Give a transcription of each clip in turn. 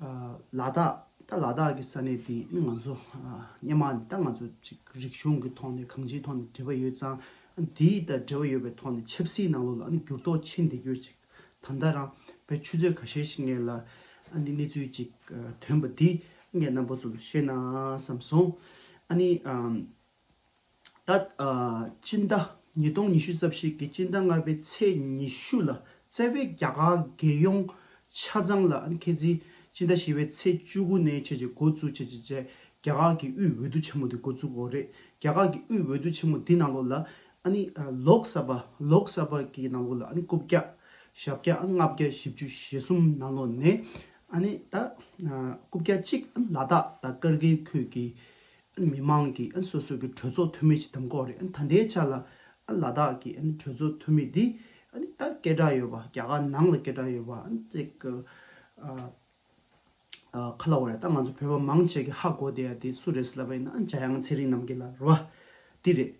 ལ་དྭགས་ད་ལ་དྭགས་ཀྱི་ས་གནས་དེ་ནི་ང་ཚོ་སྙེ་མ་ནི་ད་ང་ཚོ་ཅིག་རིག་གཞུང་གི་ཐོག་ནས་གང་ཅིའི་ཐོག་ནས་འབྲེལ་བ་ཡོད་ཙང་དེ་ད་འབྲེལ་བ་ཡོད་པའི་ཐོག་ནས་ཆབ་སྲིད་ནང་ལོགས་ལ་ནི་འགྱུར་ལྡོག་ཆེན་འདི་གྱུར་ཅིག་ད་ལྟ་རང་བོད་ཆུ་ཚོད་ག་ཤེད་ཤིག་ངེས་ལ་ཨ་ནི་གནས་ཚུལ་ཅིག་ཐོན་པ་འདི་ངས་རྣམ་པ་ཚོ་ལ་བཤད་ན་བསམ་སོང་ཨ་ནི་ད་ལྟ་སྤྱི་ཟླ་ཉིས་སྟོང་ཉི་ཤུ་རྩ་བཞི་གི་སྤྱི་ཟླ་ལྔ་པའི་ཚེས་ཉི་ཤུ་ལ་རྩ་བའི་རྒྱ་གར་རྒྱལ་ཡོངས་ཆ་ཚང་ལ་མཁས་བཙུན་སྤྱི་ཟླ་བཞི་བའི་ཚེས་བཅུ་དགུ་ནས་བཅས་ཀྱི་འགོ་བཙུགས་བྱས་རྗེས་རྒྱ་གར་གྱི་དབུས་འོས་བསྡུ་ཆེན་མོ་དེ་འགོ་བཙུགས་འོག་རེད་རྒྱ་གར་གྱི་དབུས་འོས་བསྡུ་ཆེན་མོ་དེ་ནང་ལོགས་ལ Lok Sabha ལོག་སཱ་བྷ་གི་ནང་ལོགས་ལ་རྐུབ་བཀྱག་ཞབས་བཀྱག་ལྔ་བརྒྱ་བཞི་བཅུ་ཞེ་གསུམ་ནང་ལོགས་ནས་རྐུབ་བཀྱག་གཅིག་ལ་དྭགས་དང་ཀར་གྷིལ་ཁུལ་གྱི་མི་མང་གི་སོ་སོ་གི་གྲོས་ཚོགས་འཐུས་མི་ཞིག་དམ་འགོག་རེད་ད་ལྟའི་ཆ་ལ་ལ་དྭགས་ཀྱི་གྲོས་ཚོགས་འཐུས་མི་འདི་ད་སྐད་གྲགས་ཡོད་པ་རྒྱ་གར་ནང་ལ་སྐད་གྲགས་ཡོད་པ་ཅིག་ག་ལ་བ་རེད་ད་ང་ཚོ་བོད་པ་མང་ཆེ་གི་ཧ་གོ་བསྡད་ཡ་དེ་སུ་རེད་ཟེར་ལབ་པ་ཡིན་ན་འཇའ་ཡང་ཚེ་རིང་རྣམ་རྒྱལ་ལ་རོ། འདི་རེད།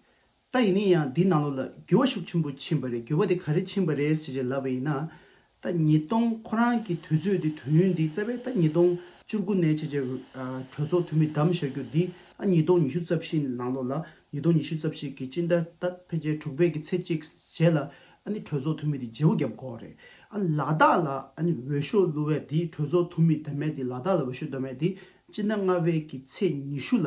ད་ཡིན་ན་ཡང་འདི་ནང་ལོགས་ལ་འགྱུར་བ་ཤུགས་ཆེན་པོ་ཕྱིན་པ་རེད་འགྱུར་བ་དེ་ག་རེ་ཕྱིན་པ་རེད་ཟེར་བཞིན་ལབ་པ་ཡིན་ན། ད་ཉིས་སྟོང་ཁོ་རང་གི་དུས་ཚོད་འདི་དུས་ཡུན་འདི་རྩ་བའི་ད་ཉིས་སྟོང་བཅུ་དགུ་ནས་བྱས་རྗེས་གྲོས་ཚོགས་འཐུས་མི་བདམས་བཞག་རྒྱུ་འདི་ཨ་ཉིས་སྟོང་ཉི་ཤུ་རྩ་བཞི་ནང་ལོགས་ལ་ཉིས་སྟོང་ཉི་ཤུ་རྩ་བཞི་གི་སྤྱི་ཟླ་ད་ཕལ་ཆེར་དྲུག་པའི་གི་ཚེ་གཅིག་རྗེས་ལ་ཨ་ནི་གྲོས་ཚོགས་འཐུས་མི་འདི་བརྗེ་བོ་བརྒྱབ་དགོས་རེད་ཨ་ལ་དྭགས་ལ་ཨ་ནི་འོས་ཤོག་བླུ་བའི་འདི་གྲོས་ཚོགས་འཐུས་མི་བདམས་མེད་འདི་ལ་དྭགས་ལ་འོས་ཤོག་བསྡོམས་མེད་འདི་སྤྱི་ཟླ་ལྔ་པའི་གི་ཚེ་ཉི་ཤུ་ལ་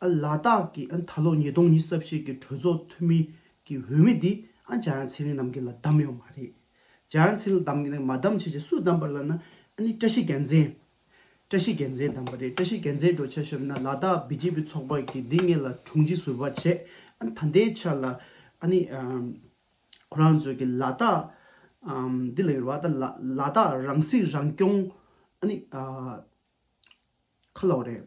ལ་དྭགས་ཀྱི་ད་ལོ་ཉིས་སྟོང་ཉིས་བརྩ་བཞི་གི་གྲོས་ཚོགས་འཐུས་མི་གི་འོས་མི་དེ་ཨ་ཇཱ་ཡང་ཚེ་རིང་རྣམ་གྱི་ལ་བདམས་ཡོག་མ་རེད། ཨ་ཇཱ་ཡང་ཚེ་རིང་བདམས་གི་ནས་མ་བདམས་བྱས་ཅི་སུས་བདམས་པ་ལ་ན་ཨ་ནི་བཀྲ་ཤིས་རྒྱལ་མཚན། བཀྲ་ཤིས་རྒྱལ་མཚན་བདམས་པ་རེད་བཀྲ་ཤིས་རྒྱལ་མཚན་འགྲོ་ཆ་ཤོམ་ན་ལ་དྭགས་བི་ཇེ་པི་ཚོགས་པ་གི་དེ་ངེད་ལ་དྲུང་ཆེ་ཟུར་པ་བྱེད་ཨ་ད་ལྟའི་ཆ་ལ་ཨ་ནི་ཁོ་རང་ཚོས་གི་ལ་དྭགས་འདི་ལ་ཡོད་པ་ད་ལ་དྭགས་རང་སྲིད་རང་སྐྱོང་ཨ་ནི་ཁ་ལོ་རེད།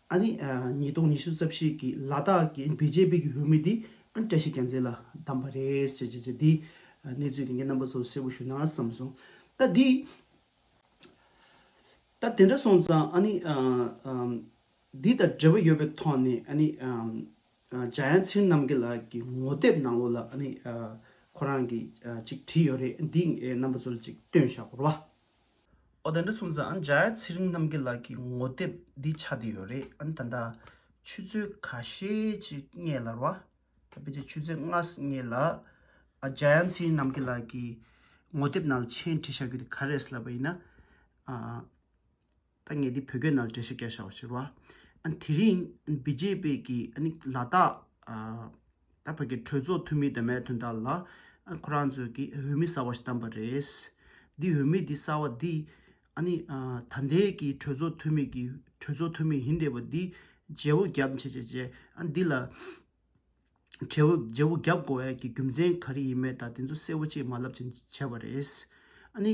ཨ་ནི། ཉིས་སྟོང་ཉི་ཤུ་རྩ་བཞི་གི་ལ་དྭགས་ཀྱི་བེ་ཇེ་པི་གི་འོས་མི་དེ་ཨ་ནི་བཀྲ་ཤིས་རྒྱལ་མཚན་ལ་བདམས་པ་རེད་ཟེར་ཟེར་དེ་གནས་ཚུལ་དེ་ངས་རྣམ་པ་ཚོར་གསལ་པོ་ཞུ་ན་བསམ་སོང། ད་དེ། ད་དེ་འདྲ་སོང་ཙང་ཨ་ནི། འདི་དང་འབྲེལ་བ་ཡོད་པའི་ཐོག་ནས་ཨ་ནི། འཇའ་ཡང་ཚེ་རྣམ་རྒྱལ་ལགས་ཀྱི་ངོ་དེབ་ནང་ལོགས་ལ་ཨ་ནི། ཁོ་རང་གིས་ཅིག་བྲིས་ཡོད་རེད་འདི་ངས་རྣམ་པ་ཚོར་ཅིག་སྟོན་བཞག་རོགས། ཨོ་དེ་འདྲ་སོང་ཙང་ཨ་འཇའ་ཚེ་རིང་རྣམ་རྒྱལ་ལགས་ཀྱི་ངོ་དེབ་འདི་ཆགས་བསྡད་ཡོད་རེད་ཨ་ནི་ད་ལྟ་ཆུ་ཚོད་ག་ཤེད་ཅིག་བསྙད་ལར་བ་ད་ཕལ་ཆེར་ཆུ་ཚོད་ལྔ་བསྙད་ལ་ཨ་འཇའ་ཚེ་རིང་རྣམ་རྒྱལ་ལགས་ཀྱི་ངོ་དེབ་ནང་མཆན་བྲིས་བཞག་རྒྱུ་དེ་ག་རེད་ལབ་པ་ཡིན་ན་ཨ་ད་ངས་འདི་བོད་སྐད་ནང་འབྲེལ་བཤད་རྒྱག་བཞག་པ་ཕྱིར་བ་ཨ་ནི་དེ་རིང་ཨ་ནི་བི་རྗེ་པེ་ཀྱི་ཨ་ནི་ལ་དྭགས་ཨ། ད་བོད་ཀྱི་གྲོས་ཚོགས་འཐུས་མིའི་དོན་མེད་དོན་དག་ལ་ཁོ་རང་ཚོས་ཀྱི་འོས་མི་གསར་བ་ཞིག་བཏང་བ་རེད། འདི་འོས་མི་འདི་གསར་བ་འདི། ཨ་ནི། ད་ལྟའི་ཀྱི་གྲོས་ཚོགས་འཐུས་མི་ཀྱི་གྲོས་ཚོགས་འཐུས་མི་ཡིན་བསྡད་པ་འདི། རྗེ་བོ་རྒྱབ་བྱས་བྱས་བྱས་ཨ་འདི་ལ། རྗེ་བོ་རྗེ་བོ་རྒྱབ་དགོས་འི་ཀྱི་རྒྱུ་མཚན་ག་རེ་ཡིན་མེད་ད་དེ་ཚོ་གསལ་བོ་བྱས་མ་ལབ་བྱས་བྱས་པ་རེད། ཨ་ནི།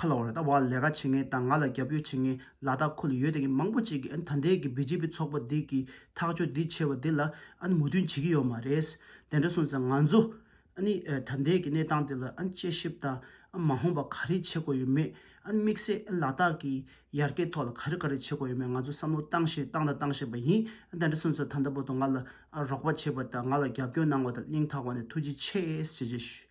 ཁ་ལོ་རེད་ད་བར་ལས་ཀ་བྱེད་མཁན་དང་ང་ལ་རྒྱབ་སྐྱོར་བྱེད་མཁན་ལ་དྭགས་ཁུལ་ལ་ཡོད་དེ་གི་མང་པོ་ཅིག་གིས་ད་འདས་ཀི་བི་ཇེ་པི་ཚོགས་པ་འདི་གི་ཐག་གཅོད་འདི་བྱས་པ་འདི་ལ་མོས་མཐུན་བྱེད་ཀི་ཡོད་མ་རེད། དེ་འདྲ་སོང་ཙང་ང་ཚོ་ད་འདས་ཀི་གནས་སྟངས་འདི་ལ་དཔྱད་ཞིབ་དང་མ་འོངས་པ་ག་རེ་བྱེད་དགོས་ཡོད་མེད་དམིགས་བསལ་ལ་དྭགས་ཀི་ཡར་རྒྱས་ཐོག་ལ་ག་རེ་ག་རེ་བྱེད་དགོས་ཡོད་མེད་ང་ཚོ་བསམ་བློ་བཏང་བཞིན་བཏང་དང་བཏང་བཞིན་པ་ཡིན་དེ་འདྲ་སོང་ཙང་ད་ལྟ་བར་དུ་ང་ལ་རོགས་པ་བྱས་པ་དང་ང་ལ་རྒྱབ་སྐྱོར་གནང་བ་དང་གླེང་ཐག་བ་ནས་ཐུགས་རྗེ་ཆེ་ཞེས་བརྗོད།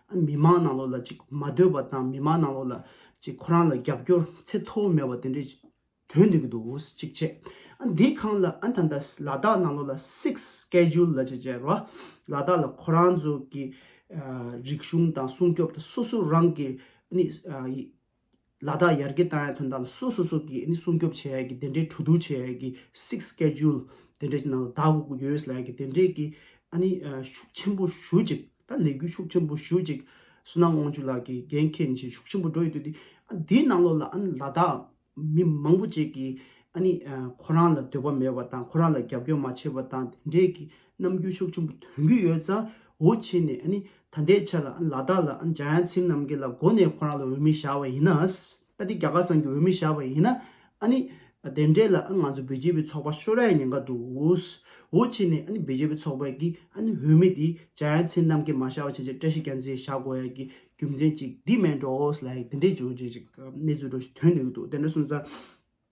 མི་དམངས་ནང་ལོགས་ལ་ཅིག་མ་སྡོད་པ་དང་མི་དམངས་ནང་ལོགས་ལ་ཅིག་ཁོ་རང་ལ་རྒྱབ་སྐྱོར་ཚད་མཐོ་བོ་མེད་པ་དེ་འདྲའི་དོན་འདི་གི་འདུག་ཅིག་བྱས་ཨ་འདི་གང་ལ་ཨ་ད་ལྟ་ལ་དྭགས་ནང་ལོགས་ལ six schedule ལ་ཅིག་བྱས་རོ་ལ་དྭགས་ལ་ཁོ་རང་ཚོ་གི་རིག་གཞུང་དང་སྲུང་སྐྱོབ་དང་སོ་སོ་རང་གི་ནི་ལ་དྭགས་ཡར་རྒྱས་བཏང་ཡག་དོན་དག་ལ་སོ་སོ་སོ་གིས་ནི་སྲུང་སྐྱོབ་བྱས་ཡག་གི་དེ་འདྲའི་གྲོས་བསྡུར་བྱས་ཡག་གི six schedule དེ་འདྲའི་ནང་ལ་དྭགས་དབུ་གུར US ལ་ཡག་གི་དེ་འདྲའི་གི་ཨ་ནི་ཤུགས་ཆེན་པོ་ཞུ་ཅིག་ད་ལས་འགུལ་ཤུགས་ཆེན་པོ་ཞུ་ཅིག་སུན་ནག་དབང་ཕྱུག་ལགས་ཀྱི་འགན་ཁྱེད་ནས་བྱས་ཤུགས་ཆེན་པོ་འགྲོ་ཡི་འདུག་དེ་ཨ་འདིའི་ནང་ལོགས་ལ་ཨ་ནི་ལ་དྭགས་མི་མང་པོ་བཅས་ཀྱིས་ཨ་ནི་ཁོ་རང་ལ་འདོད་པ་མེད་པ་དང་ཁོ་རང་ལ་རྒྱབ་སྐྱོར་མ་བྱས་པ་དང་དེ་འདྲའི་གི་ནམ་རྒྱུན་ཕྱོགས་ཆེན་པོ་དོན་གུས་ཡོད་ཙང་འོ་ཆེ་ནས་ཨ་ནི་ད་ལྟའི་ཆ་ལ་ཨ་ནི་ལ་དྭགས་ལ་ཨ་ནི་འཇང་ཡང་ཚིམ་རྣམ་རྒྱལ་ལ་མགོ་ནས་ཁོ་རང་ལ་འོས་མི་བཞག་པ་ཡིན་ན་ཨ་ཏི་རྒྱ་གར་སངས་ཀྱི་འོས་མི་བཞག་པ་ཡིན་ན་ཨ་ནི་དེ་འདྲས་ལ་ཨ་ང་ཚོ་བེ་རྗེ་བའི་ཚོགས་པ་ཤོར་ཡ་ཉེན་ཁ་འདུག་འོ་ཆེ་ནས་ཨ་ནི་བེ་རྗེ་བའི་ཚོགས་པའི་གི་ཨ་ནི་འོས་མི་དེ་འཇང་ཡང་ཚིམ་རྣམ་རྒྱལ་མ་བཞག་པ་བྱས་བྱས་བཀྲ་ཤིས་རྒྱ་མཚན་བཞག་དགོས་ཡ་གི་རྒྱུ་མཚན་ཅིག་དེ་མེད་འགྲོ་ཨོ་ལ་ཡིག་དེ་འདྲས་བརྗོད་བྱས་ཅིག་གནས་ཚུལ་འགྲོ་བཞིན་དོན་ནུས་ཀྱི་འདུག་དེ་འདྲ་སོང་ཙང།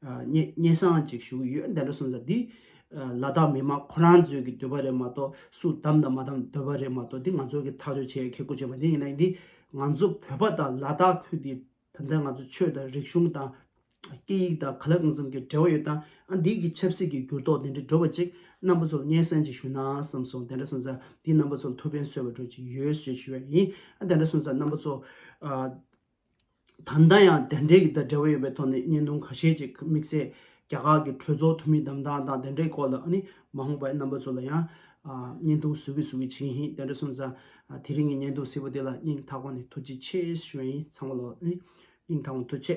སྙན་སང་ཅིག་ཞུ་གི་ཡོད་འདི་འདྲ་གསུངས་ས་འདི། ལ་དྭགས་མི་མང་ཁོ་རང་ཚོས་ཀྱི་འདོད་པ་རེད་མ་གཏོགས་སུ་གདམ་དང་མ་གདམ་འདོད་པ་རེད་མ་གཏོགས་འདི་ང་ཚོ་གི་ཐག་གཅོད་བྱེད་ཡ་ཁེ་གོ་ཆོད་མ་འདི་ཡིན་ན་འདི། ང་ཚོ་བོད་པ་དང་ལ་དྭགས་ཁུལ་འདི་ད་ལྟ་ང་ཚོ་ཆོས་དང་རིག་གཞུང་དང། སྐད་ཡིག་དང་ག་ལ་གང་ཙམ་གྱི་འབྲེལ་བ་ཡོད་དང་ཨ་འདི་གི་ཆབ་སྲིད་ཀྱི་འགྱུར་ལྡོག་འདི་འདྲ་འགྲོ་བ་ཅིག་རྣམ་པ་ཚོར་སྙན་སང་ཅིག་ཞུ་ན་བསམ་སོང་འདི་འདྲ་གསུངས་ས་འདི་རྣམ་པ་ཚོར་མཐུ་ཕན་སོས་པ་འགྲོ་ཅིག་ཡོད་ཞེས་ཞུ་ཡ་ཡིན་ཨ་འདི་འདྲ་གསུངས་ས་རྣམ་པ་ཚོ། ད་ལྟ་ཡང་དེ་འབྲེལ་གྱི་དང་འབྲེལ་བ་ཡོད་པའི་ཐོག་ནས་བརྙན་ཐུང་ཁ་ཤས་ཅིག་དམིགས་བསལ་རྒྱ་གར་གྱི་གྲོས་ཚོགས་འཐུས་མི་བདམས་ཐང་དང་དེ་འབྲེལ་སྐོར་ལ་ནི་མ་འོངས་པའི་རྣམ་པ་ཚོ་ལ་ཡང་བརྙན་ཐུང་བཟོ་གི་བཟོ་གི་བྱིན་ཞིང་དེ་འདྲ་སོང་ཙང་དེ་རིང་གི་བརྙན་ཐུང་བཟི་བ་དེ་ལ་སྙིང་ཐག་པ་ནས་ཐུགས་རྗེ་ཆེ་ཞུ་བ་ཡིན་ཚང་མ་ལ་ནི་སྙིང་ཐང་བ་ཐུགས་ཆེ།